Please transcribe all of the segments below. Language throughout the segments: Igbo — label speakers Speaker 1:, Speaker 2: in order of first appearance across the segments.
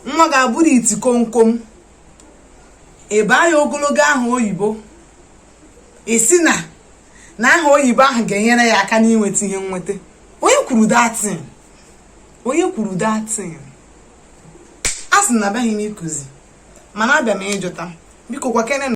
Speaker 1: nwa ga-abụrụ iti kọmkọm ị baa ya ogologo aha oyibo ị sị na aha oyibo ahụ ga-enyere ya aka n'inweta ihe nnweta onye kwuru that thing onye kwuru that thing a sị na abịaghị m ịkụzi mana abịa m ịjụta biko gwakene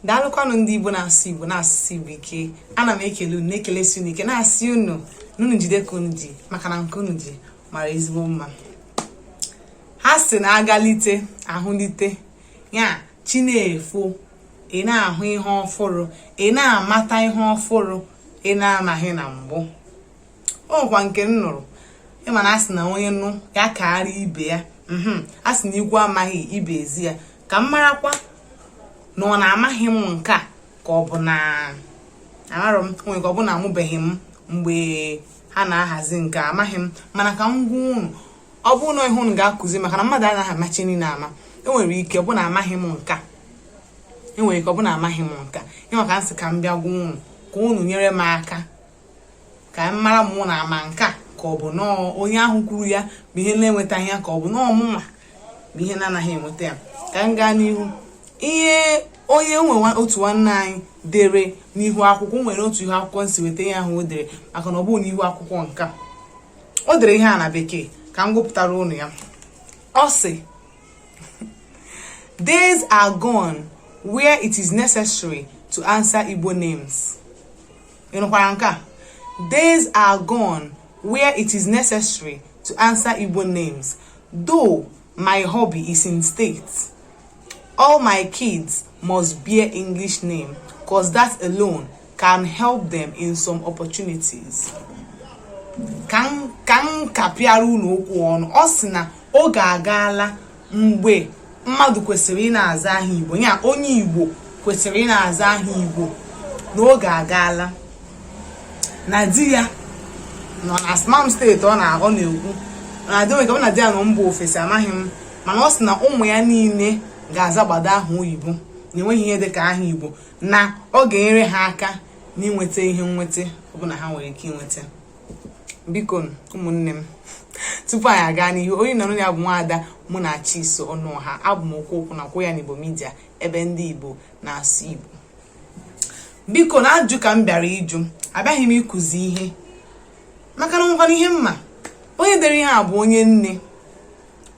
Speaker 1: daalụkwanụ ndị igbo na-asụ igbo na-asụsi igbo ike ana m ekele unu na-ekelesi unu ike na-asị unu na unu jide ka unu ji maka na nke unu ji mara ezigbo mma ha sị na agalite ahụlite ya chi na-efo ị na-ahụ ihe ọfụrụ ị na-amata ihe ọfụrụ ị na-amaghị na mbụ o nwekwa nke m nụrụ ị ma na a sị na onye nụ ya kaara ibe ya mhm. a sị na igwe amaghị ibe ezi ya ka m marakwa na ọ na amaghị m nke a ka ọ bụ na amarọ m nwere ike ọ bụ na amụbeghị m mgbe ha na-ahazi nke a amaghị m mana ka m gwa unu ọ bụ na ihe unu ga-akụzi maka na mmadụ anaghị amacha ihe niile ama enwere ike ọ bụ na amaghị m nke a enwere ike ọ bụ na amaghị m nke a ị ma ka m sị ka m bịa gwa unu ka unu nyere m aka ka m mara mụ na ama nke a ka ọ bụ nọọ onye ahụ kwuru ya bụ ihe na-enwetaghị ya ka ọ bụ nọọ mụnwa bụ ihe na-anaghị enweta ya ka m gaa n'ihu ihe o nwere otu nwanne anyị dere n'ihu akwụkwọ nwere otu ihu akwụkwọ m si weta ihe ahụ o dere maka na ọ bụghị n'ihu akwụkwọ nke a o dere ihe a na bekee ka m gụpụtara unu ya ọ sị days are gone where it is necessary to answer Igbo names. ị nụkwara nke a days are gone where it is necessary to answer Igbo names though my hubby is in states all my kids must bear English name cause that alone can help them in some opportunities ka m kapịara unu okwu ọnụ ọ sị na oge agaala mgbe mmadụ kwesịrị ịna-aza aha igbo ya onye igbo kwesịrị ịna-aza aha igbo na oge agaala na di ya nọ na s ama m state ọ na-aghọ na-ekwu na di nwere ka ọ na di ya nọ mba ofesi amaghị m mana ọ sị na ụmụ ya niile ga-azagbado aha oyibo na enweghị ihe dịka aha igbo na ọ ga-enyere ha aka n'inweta ihe nnweta ọbụla ha nwere ike inweta biko ụmụnne m tupu anyị aga n'ihu onye nọrọ ya bụ nwaada munachiso ọnụọha abụ m okwu okwu na kwụ ya n'igbo media ebe ndị igbo na-asụ igbo biko na ajụ ka m bịara ịjụ abịaghị m ịkụzi ihe maka na o nwekwanụ ihe m ma onye dere ihe a bụ onye nne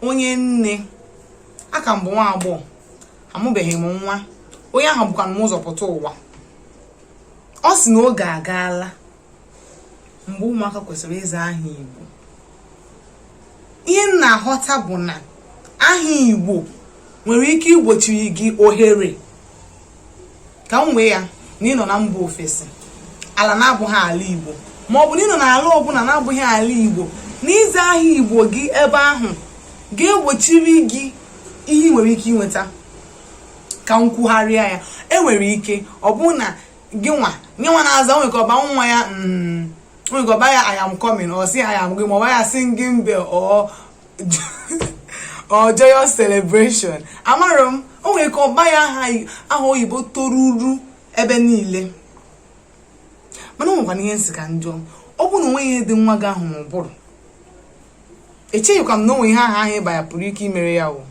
Speaker 1: onye nne aka m bụ nwa agbọghọ amụbeghị m nwa onye ahụ bukwa m ụzọ pụta ụwa ọ sị na oge agaala mgbe ụmụaka kwesịrị ịza aha Igbo ihe m na-aghọta bụ na aha Igbo nwere ike igbochiri gị ohere ka m wee ya na ịnọ na mba ofesi ala na-abụghị ala Igbo ma ọ bụ na ịnọ na ala ọbụla na-abụghị ala Igbo na ịza aha Igbo gị ebe ahụ ga-egbochiri gị ihe ị nwere ike inweta ka m kwugharịa ya enwere ike ọ bụ na gị nwa nye nwa na-aza nwere ike ọ baa nwa ya mm, nwere ike ọ baa ya I am coming ọ sị I am going ọ baa ya singing bell or joyous celebration amarọ m o nwere ike ọ baa ya aha oyibo toruru ebe niile mana o nwekwanụ ihe m sị ka m jụọ ọ bụrụ na o nweghị ihe dị nwa gị ahụ n'ụbụrụ echeghịkwa m na o nwe ihe aha ahụ ị ba ya pụrụ ike imere ya o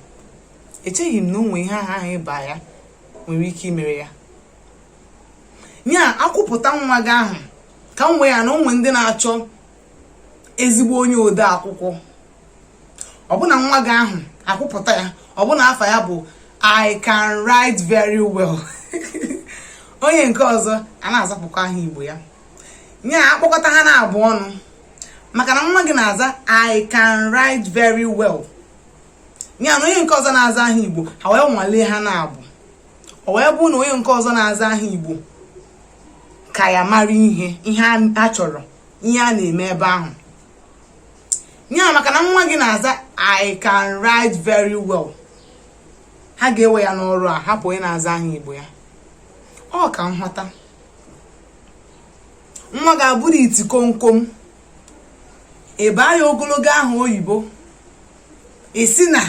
Speaker 1: echeghị m na o nwe ihe aha ahụ ị ba ya nwere ike imere ya nya akwụpụta nwa gị ahụ ka m wee ya na o nwe ndị na-achọ ezigbo onye ode akwụkwọ ọ bụ na nwa gị ahụ akwụpụta ya ọ bụ na afa ya bụ i can write very well onye nke ọzọ a na-azapụkwa aha igbo ya nya a kpọkọta ha n'abụọ ọnụ maka na nwa gị na-aza i can write very well nya na onye nke ọzọ na-aza aha igbo ha wee nwalee ha n'abụọ o wee bụrụ na onye nke ọzọ na-aza aha igbo ka ya mara ihe ihe a chọrọ ihe a na-eme ebe ahụ ya maka na nwa gị na-aza i can write very well ha ga-ewe ya n'ọrụ a hapụ onye na-aza aha igbo ya ọ ka m ghọta nwa gị abụrụ iti komkom ị baa ya ogologo aha oyibo ị sị na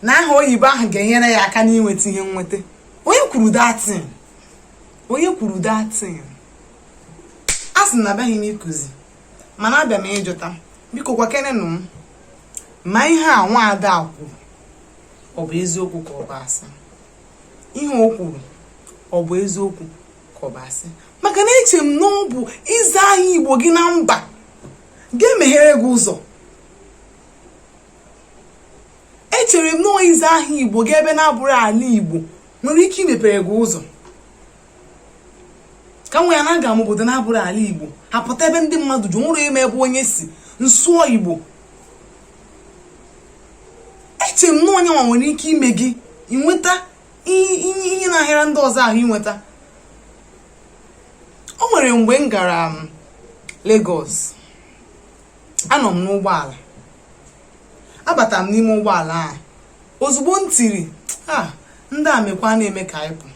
Speaker 1: na aha oyibo ahụ ga-enyere ya aka n'inweta ihe nweta onye kwuru that thing onye kwuru that thing asị m na abịaghị m ịkụzi mana abịa m ịjụta biko gwakenenụ m ma ihe a nwaada kwuru ọ bụ eziokwu ka ọ bụ asị ihe o kwuru ọ bụ eziokwu ka ọ bụ asị maka na eche m na ọ bụ ịza aha igbo gị na mba ga-emeghere gị ụzọ echere m nnọọ ịza aha igbo gị ebe na-abụrọ ala igbo nwere ike imepere gị ụzọ ka m wee ya na aga m obodo na-abụrọ ala igbo apụta ebe ndị mmadụ ju o nwerọ onye ma ebe onye si m sụọ igbo eche m na onye nwa nwere ike ime gị ị nweta ihe na-ahịara ndị ọzọ ahụ inweta o nwere mgbe m gara um, Lagos anọ m n'ụgbọala abata m n'ime ụgbọala a ozugbo m tiri a ndị a mekwa na-eme ka anyị pụ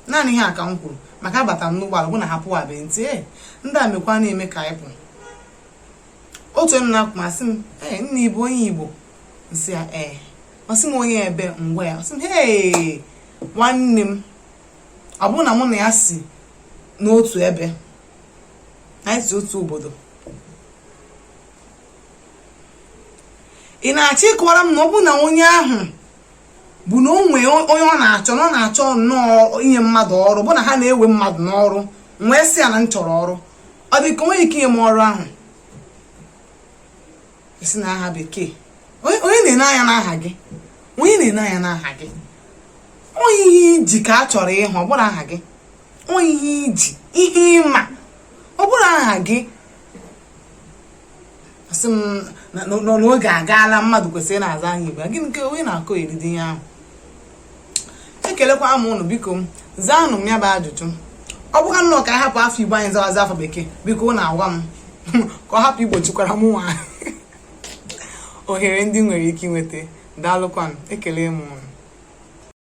Speaker 1: naanị ihe a ka m kwuru maka abata m n'ụgbọala bụ na ha apụwabeghị m tie ndị a mekwa na-eme ka anyị pụ otu onye nọ n'akụkụ m asị m ee nna ị bụ onye igbo m sị ya ee ọ sị m onye ebee m gwa ya ọ sị m hee nwanne m ọ bụrụ na mụ na ya si n'otu ebe anyị si otu obodo ị na-achọ ịkọwara m na ọ bụ na onye ahụ bụ na o nwee onye ọ na-achọ na ọ na-achọ nnọọ inye mmadụ ọrụ bụ na ha na-ewe mmadụ n'ọrụ m wee sị ya na m chọrọ ọrụ ọ dị ka o nwe ike inye m ọrụ ahụ a sị na aha bekee onye na-ene anya n'aha gị onye na-ene anya n'aha gị ọ ihe i ji ka a chọrọ ịhụ ọ bụrọ aha gị ọ ihe i ji ihe ị ma ọ bụrọ aha gị asị m na oge agaala mmadụ kwesịrị ịna-aza aha igbo gịnị nke onye na-akọ ụdịdị ihe ahụ ekelekwa m ụnụ biko m zaanụ m ya bụ ajụjụ ọ bụkwa nnọọ ka a hapụ afa igbo anyị zawazi afa bekee biko ụnụ agwa m ka ọ hapụ igbochikwara m nwa ohere ndị m nwere ike inweta daalụkwanụ ekele m ụnụ